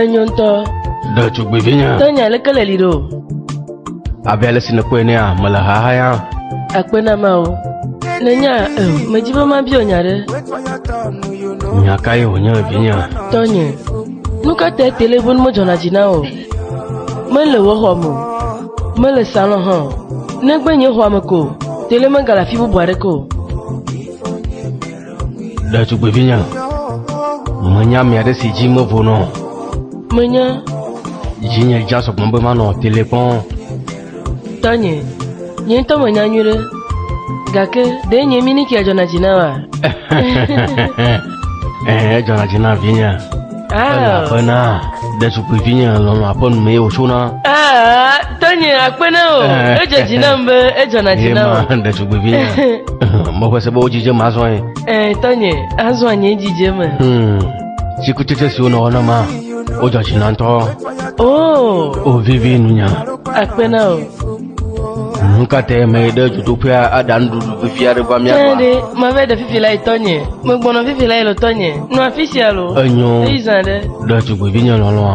Enyo ŋutɔ. Ɖe tugbedze nya. Te nya leke le li ɖo. Abe ale si nèkpɔe nea mele haha ya. Akpe na ma o. Nenya e, medzi be mabia nya ɖe. Nya ka ye wònye vinya? Tɔnye, nu ka tae telefon medzɔna dzi na o? Mele wò xɔme o. Mele salɔ hã o, negbe nye xɔa me ko, tele megale afi bubu aɖeke o. Ɖetugbivinye, menya ame aɖe si dzi mevonɔ o. Menya. Dzinye dza sɔgbɔ be manɔ tele kpɔm. Tanye, nye ŋutɔ menya nyui ɖe, gake ɖe nye minikia dzɔna dzi na wa? Edzɔna dzi na vinye. Elabena ɖetugbuivinye lɔlɔ̃ aƒe nu mee wòtsona. Tanye akpe na o, edze dzi nam be edzɔna dzi na o. Ema ɖetugbuivinye, meƒe se be wodzidze me azɔ ye. Tanye, azɔ anye dzidze me. Hmm, Tsikutsetse siwo nɔ wɔna ma, wodzɔ dzi na ŋutɔ. O! Wovivi nunya. Akpe na o. Nukatɛ me ɖe dzodoƒea aɖa nuɖuɖu vivi aɖe va mía gbɔ. Ɖe mave ɖe fifi la yi tɔnye, megbɔnɔ fifi la yi le tɔnye, nɔ afi sia lo. Enyo. Eyi zã ɖe. Ɖe tugbevi nye lɔlɔa.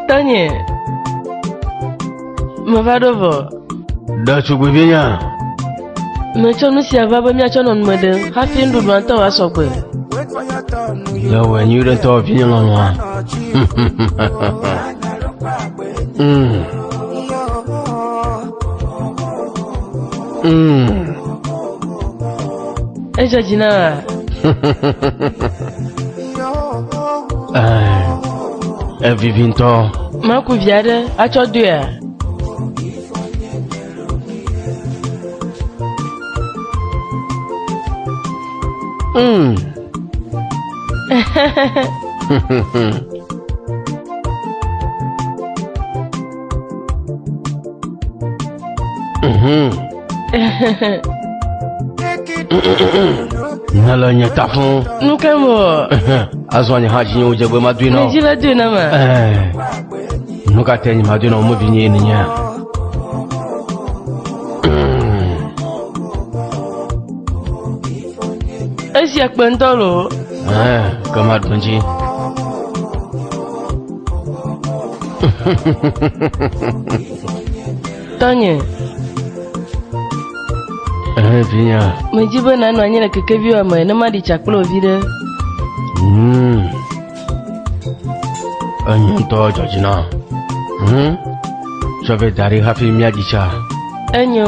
Tɔnye. Meva ɖo vɔ. Ɖetugbuivi nya. Metsɔ nu sia va be míatsɔ nɔ nume ɖem hafi nuɖuɖua ŋutɔ wa sɔgbe. Yewɔ nyui ɖe tɔ vinye lɔlɔa. Mm. Mm. Edzɔ dzi na wa. Evivi ŋutɔ. Maku vi aɖe atsɔ doe a? Mm. mm-hmm. ne le nye ta fún. nu ke mo. azɔ nye hã dzinyewo dze gbe ma dui na o. medzi le dui na ma. nu ka te nye ma dui na o mo vi nye ye nenye. esia kpe ŋutɔ lo. ke ma dun dzi. Tɔnye. Ehe vinya. Medi be nanɔ anyi le kekeviwo me ne maɖi tsa kple wò viɖe. Hmm. Enyo ŋutɔ dzɔ dzi na. Hmm. Tsɔ vɛ da ɖi hafi míaɖi tsa. Enyo.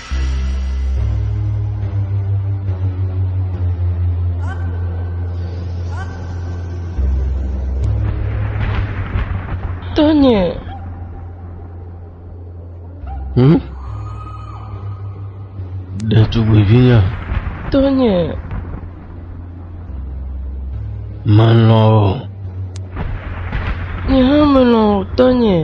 Tony. Hmm? Ɖetugbuivinya. Tony. Melɔ̃. Nye hã melɔ̃ Tony.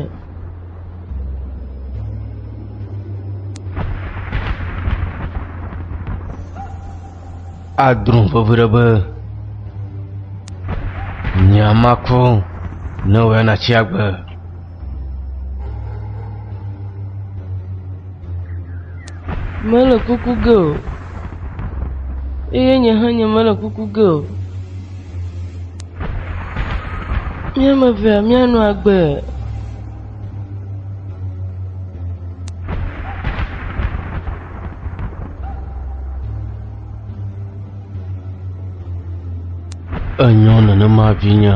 adrɔ̃ vevi ɖe be nya makro ne wòya natsi agbe mele kuku ge o eye nye hã nye mele kuku ge o Mía ame evea míanɔ agbe. Enyo nenema vinye.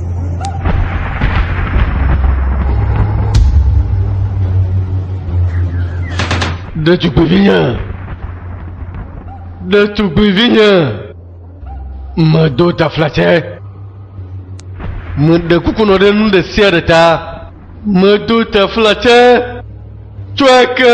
Ɖetugbuivinye, ɖetugbuivinye, medo taflatse, meɖe kuku nɔ ɖe nu ɖe sia ɖe ta, medo taflatse, tsɔe ke.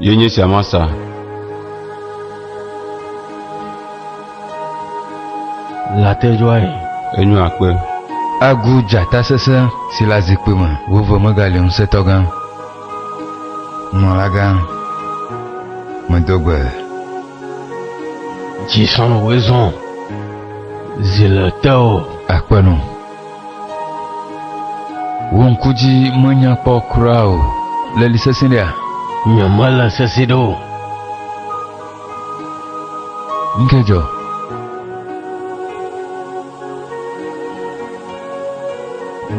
Ye nye sia masa. Latɛjɔae enyo akpe. Agu dzata sesẽ si le azikpui me veve megali ŋusẽtɔgã, nunɔlagã medo gbe. Dzi sɔn woezɔn zi le teo. Akpe nu. Wò ŋku dzi menya kpɔ kura o. Le li sesẽ ɖea? Nye mele sesẽ ɖe o. Ŋkee dzɔ.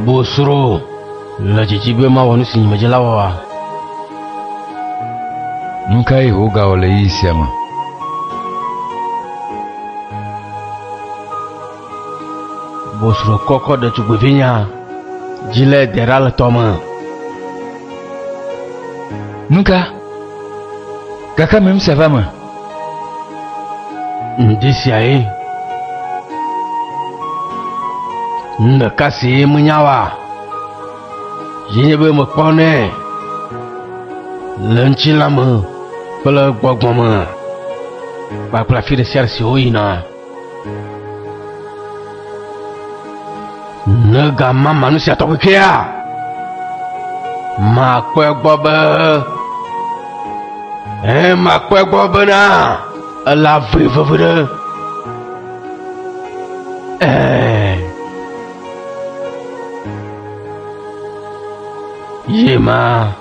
Bosro le dzidzi be mawɔ nu si nye medze la wɔa. Nu kae Yehowa gawɔ le ɣeyiɣi sia me? Bosro kɔkɔ ɖetugbuivinya dzi le Deraltɔ me. Nuka? Gake mimse va me. Ŋdi siae. Nu ɖeka si menya wa ye nye be mekpɔnɛ le ŋutilã me kple gbɔgbɔ me kpakple afi ɖe sia ɖe si woyina. Ne gamama nu sia tɔgbi kea, makpɔe gbɔ be ee makpɔe gbɔ bena ele avli vevi ɖe ee. Ye ma.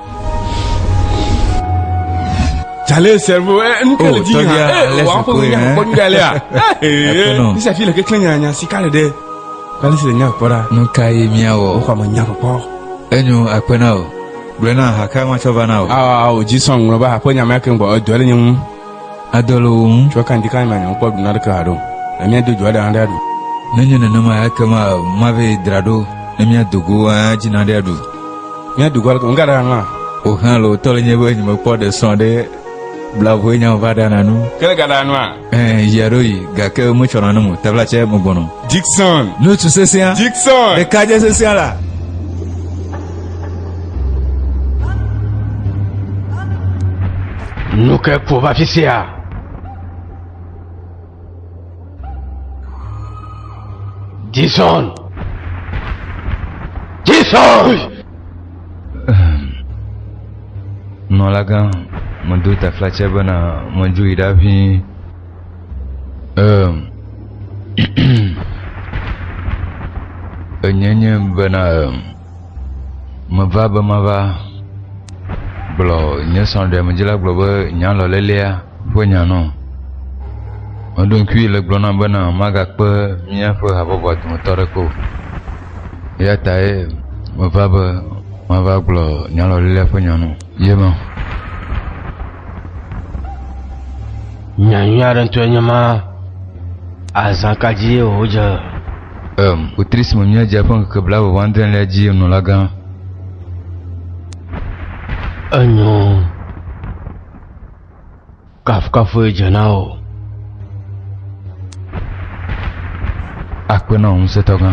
Jale servo eh, eh, nuke oh, le di ha eh, wa ko nya ko nya le a ni sa fi le ke nya nya si kale de kale si le nya ko da nu ka ye mia wo ko ma nya ko enyo akpena o gblena ha ka ma cho va na o a o ji song lo ba ko nya ma ke ngbo o do le nyu Adɔ le wò ŋu. Tsɔ kanti ka nya nyemekpɔ ɖu naɖeke haɖe o, ne míado dzoa ɖe aɖe aɖu. Ne enye nenema, ekema mave dra ɖo ne míado go adzi naɖe aɖu. Míado go aleke? Ŋga ɖe ahlã. Wò hã le wò tɔ le nye be nyemekpɔ ɖe sɔ ɖe bla voe nyam va ɖana nu. Ke le ga ɖa nua? Ẽ, yi aɖo yi, gake metsɔ nanem o, tevla tsɛ megbɔnɔ. Dickson! Nutsu sesẽa. Dickson! Ɖekadze sesẽa la. Nuke kpo va fi sia. Jason. Jason. Nɔlaga, medo taflatse bena medzoe ɖaʋĩ. Eem, enye nye bena eem, meva be mava gblɔ nye srɔ̃ɖemedzila gblɔ be nyalɔlelea ƒe nya nɔ. Meɖo ŋkui le gblɔ nam bena magakpe míaƒe habɔbɔa dometɔ aɖeke o. Eya tae meva be mava gblɔ nyalɔlelea ƒe nya nɔ. Ye ma. Nyanyui aɖe ŋutɔe nye ma. Azã ka dzi ye wòdze? Em, wotri si me míadze eƒe ŋkeke blaeve-vɔ-adrẽlia dzie nulagã. Enyo. Kafukafue dze na wò. Akpe na wò Ŋusẽtɔgã.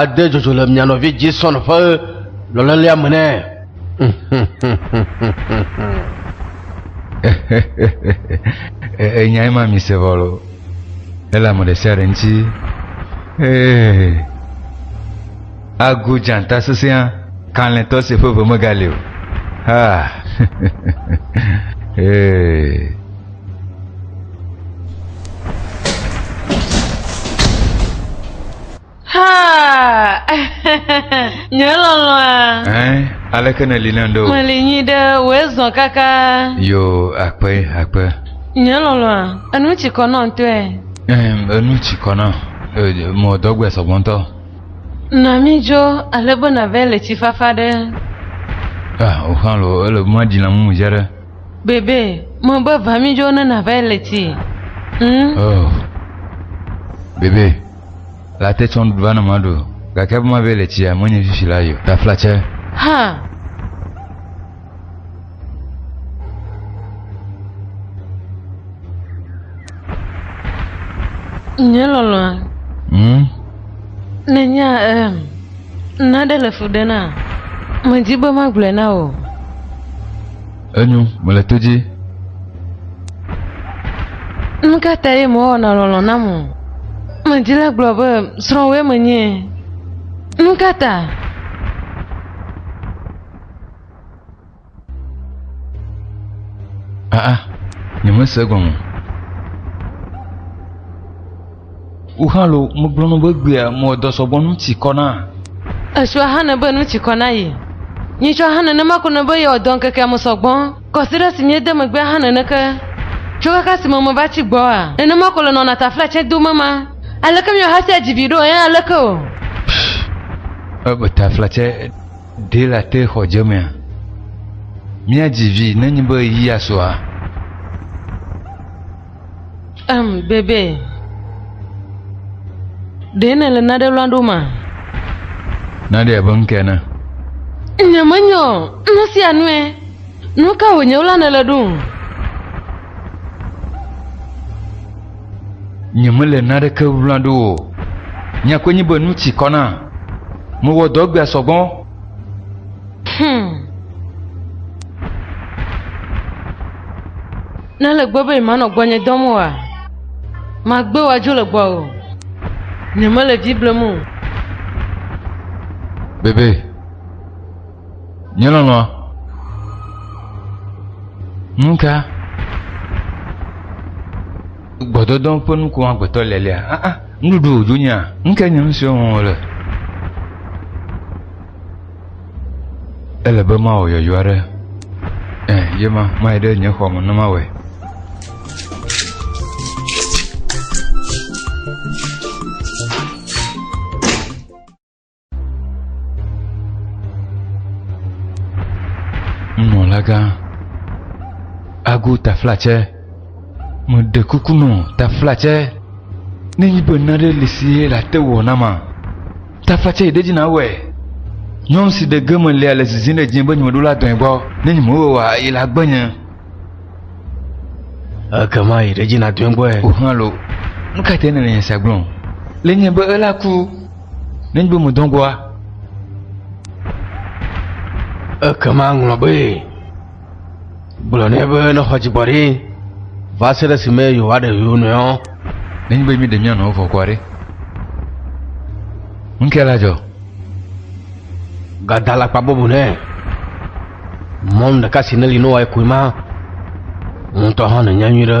ade dzodzo le mia nɔvi Jason ƒe lɔlelea me nɛ. Enyae ma mi se vɔlo. Ele ame ɖe sia ɖe ŋuti. Agu dzanta sesẽa kalẽtɔ si ƒe ve megali o. Ha. nye lɔlɔa. ɛn aleke nèli ne ŋɖo. meli nyi ɖe wòe zɔ kaka. yo akpe akpe. nye lɔlɔa enu tsi kɔ nɔ ŋutɔe. enu tsi kɔ nɔ mɔ dɔgbe sɔgbɔ ŋutɔ. na mi dzo ale be nàvɛ le tsi fafa ɖe. ah o xɔlɔ ele mɔa dzi na mumu dze ɖe. Bebe, mebe va mi jo ne na va le ti. Hmm? Oh. Bebe, la te tsɔn va na ma do. Gake ma be le ti a menye fifi la yo. Ta flatse. Ha. Nye lolo. Hmm? Nenya, um, Nane le fu ɖe na? Medi be magblɔe na wò. Enyo, mele to dzi. Nu ka tae mewɔna lɔlɔ̃ nam o? Medi la gblɔ be srɔ̃wòe menye. Nu ka ta? Aa, nyemese gɔme. Woxalo megblɔnu be gbea mɔdɔ sɔgbɔ nu tsi kɔ na. Esua hane be nu tsi kɔ na yi. Nyitsɔ hã nenema ko ne be yewɔ dɔ ŋkekea me sɔgbɔ. Kɔsiɖa si miede megbea hã nene ke. Tso kaka si me meva tsi gbɔa, nenema ko le nɔna tafla tsɛ dom ema. Aleke miahasia dzi viɖe o, eye aleke o? Pff, ebe tafla tsɛ. Ɖe la te xɔ dze mea? Mía dzi vi ne nyi be ɣeyiɣia sɔa? Em bebe. Ɖe ne le naɖe lɔa ɖo ma? Naɖe abe ŋke ene. Nye me nyɔ nu sia nue. Nuka wònye wla ne le ɖo? Nyemele naneke wlã ɖo o. Nya koe nye be nu tsi kɔ nam. Mewɔ dɔ egbea sɔ gbɔ. Hum. Ne ele gbɔ be yemanɔ gbɔnye dɔm oa, magbe wòadzo le gbɔwò. Nyemele vi blem o. Bebe. Nye lɔlɔ, nu ka gbɔdɔdɔ ƒe nuku agbetɔ le lea? Ah, ah, nuɖuɖu wòdzo nya, nu ka nye nusi wɔm wòle? Ele be mawɔ yɔyɔ aɖe. Ɛ, ye ma, mayi ɖe nye xɔ me ne mawɔe. Nunɔlagã, ago taflatsɛ, meɖe kuku nɔ taflatsɛ nenyi be naɖe li si ye le ate wɔ na ma. Taflatsɛ yi ɖe dzi nawɔe. Nyɔnu si ɖe ge me lia le zizim ɖe dzinye be nye meɖo la dɔe gbɔ ne nye mewɔe oa yi la gbe nye. Ekema yi ɖe dzi nadɔe gbɔe. O hã lo, nu ka tae nèle nya sia gblɔm? Le nye be ela ku. Nenye be mèdɔ gbɔa, ekema ŋlɔ be gblɔ nɛ be nexɔ dzigbɔɖi va se ɖe esime yewoaɖe yewo nɔewo. Nenye be míeɖe mía nɔewo vɔ kɔa ɖe, nu kae la dzɔ? Gada la kpa bɔbɔ nɛ. Mɔnu ɖeka si neli ne woae koe ma, wò ŋutɔ hã nènya nyuie ɖe.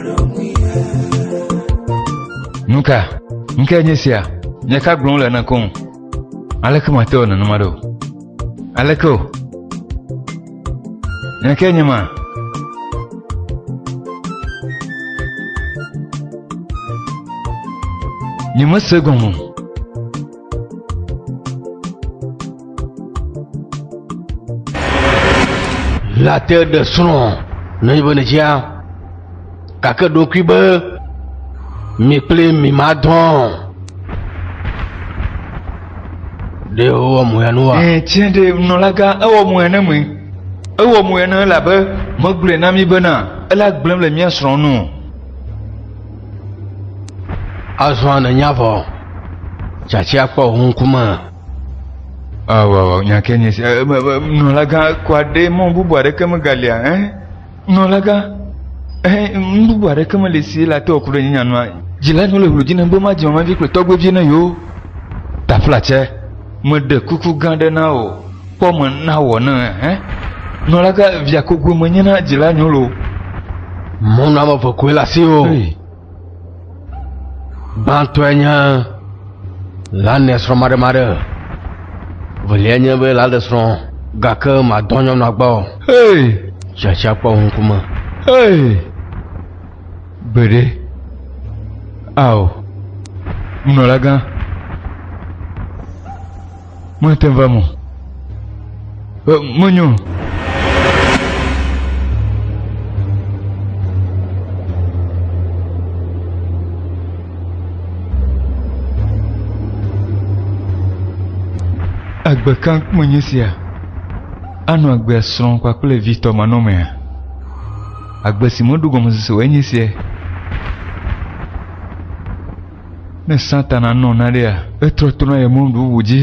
Nuka, nuka nye sia? Nye ka gblɔm le na koŋ? Aleke mate wɔ nenema ɖo? Aleke o? Nye ke nye ma? Nye mese gɔme o. Late ɖe srɔ̃ ne yi be ne dzia gake ɖokui be mi kple mi ma dɔn ɖe wowɔ mu ya nu wa. Ɛɛ tiɲɛ de nɔlaga ewɔ mu ya ne me ewɔ mu ya ne elabe megblɔe na mi bena ela gblẽm le mía srɔ̃ nu. Azɔ nènya vɔ, tsatia kpɔ wò ŋkume. Awɔ nyakɛ nye si. Nɔlagã kɔ aɖe mɔ bubu aɖeke megalia. Nɔlagã, nu bubu aɖeke mele si la te wòku ɖe nye nyanua. Dzila nyɔ le hlodzi nèm be madzi mamavi kple tɔgbevi na yewo. Taflatsɛ, meɖe kuku gã aɖe na wò. Kpɔ me na wɔ ne hẽ. Nɔla ka via kogoe menye na dzila nyolo. Mɔnu ame ve koe le asi o. Gbãtɔe nye lanɛ srɔ̃ maɖemaɖe. Veliae nye be la ɖe srɔ̃ gake madɔ nyɔnu agba o. Hey! Tsatsa kpɔ wo ŋkume. Hey! Gbeɖe. Ao. Nunɔlagã. Mate ŋu va eme o. Menyo. Agbe ka menye sia. Anɔ agbe srɔ̃ kpakple vi tɔ manɔmea. Agbe si meɖo gɔmesese o enye sia. Ne Satana nɔ naɖea, etrɔ tona ye mɔnu bubu dzi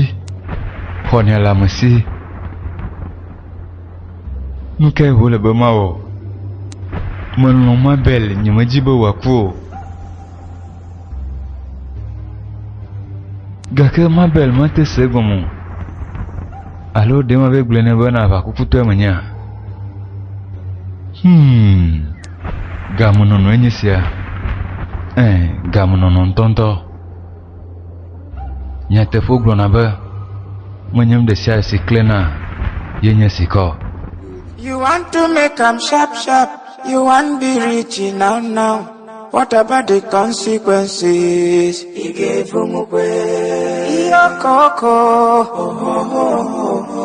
xɔnɛ le ame si. Nu kae wòle be mawɔ? Melɔ̃ Mabel, nyemedi be wòaku o. Gake Mabel mate se egɔme o. Alo ɖe mave gblɔe nɛ be nàʋa kukutɔe menyea? Hmm. Gamenɔnɔe nye sia. Ẽ, gamenɔnɔ ŋutɔŋutɔ. Nyateƒewo gblɔna be, Menye nu ɖe sia ɖe si klẽna ye nye sika o. You want to make am sharp sharp, you want be rich now now, what about the consequences? Ị ga-evu m kwe. Iyokoko. Ohohohoho.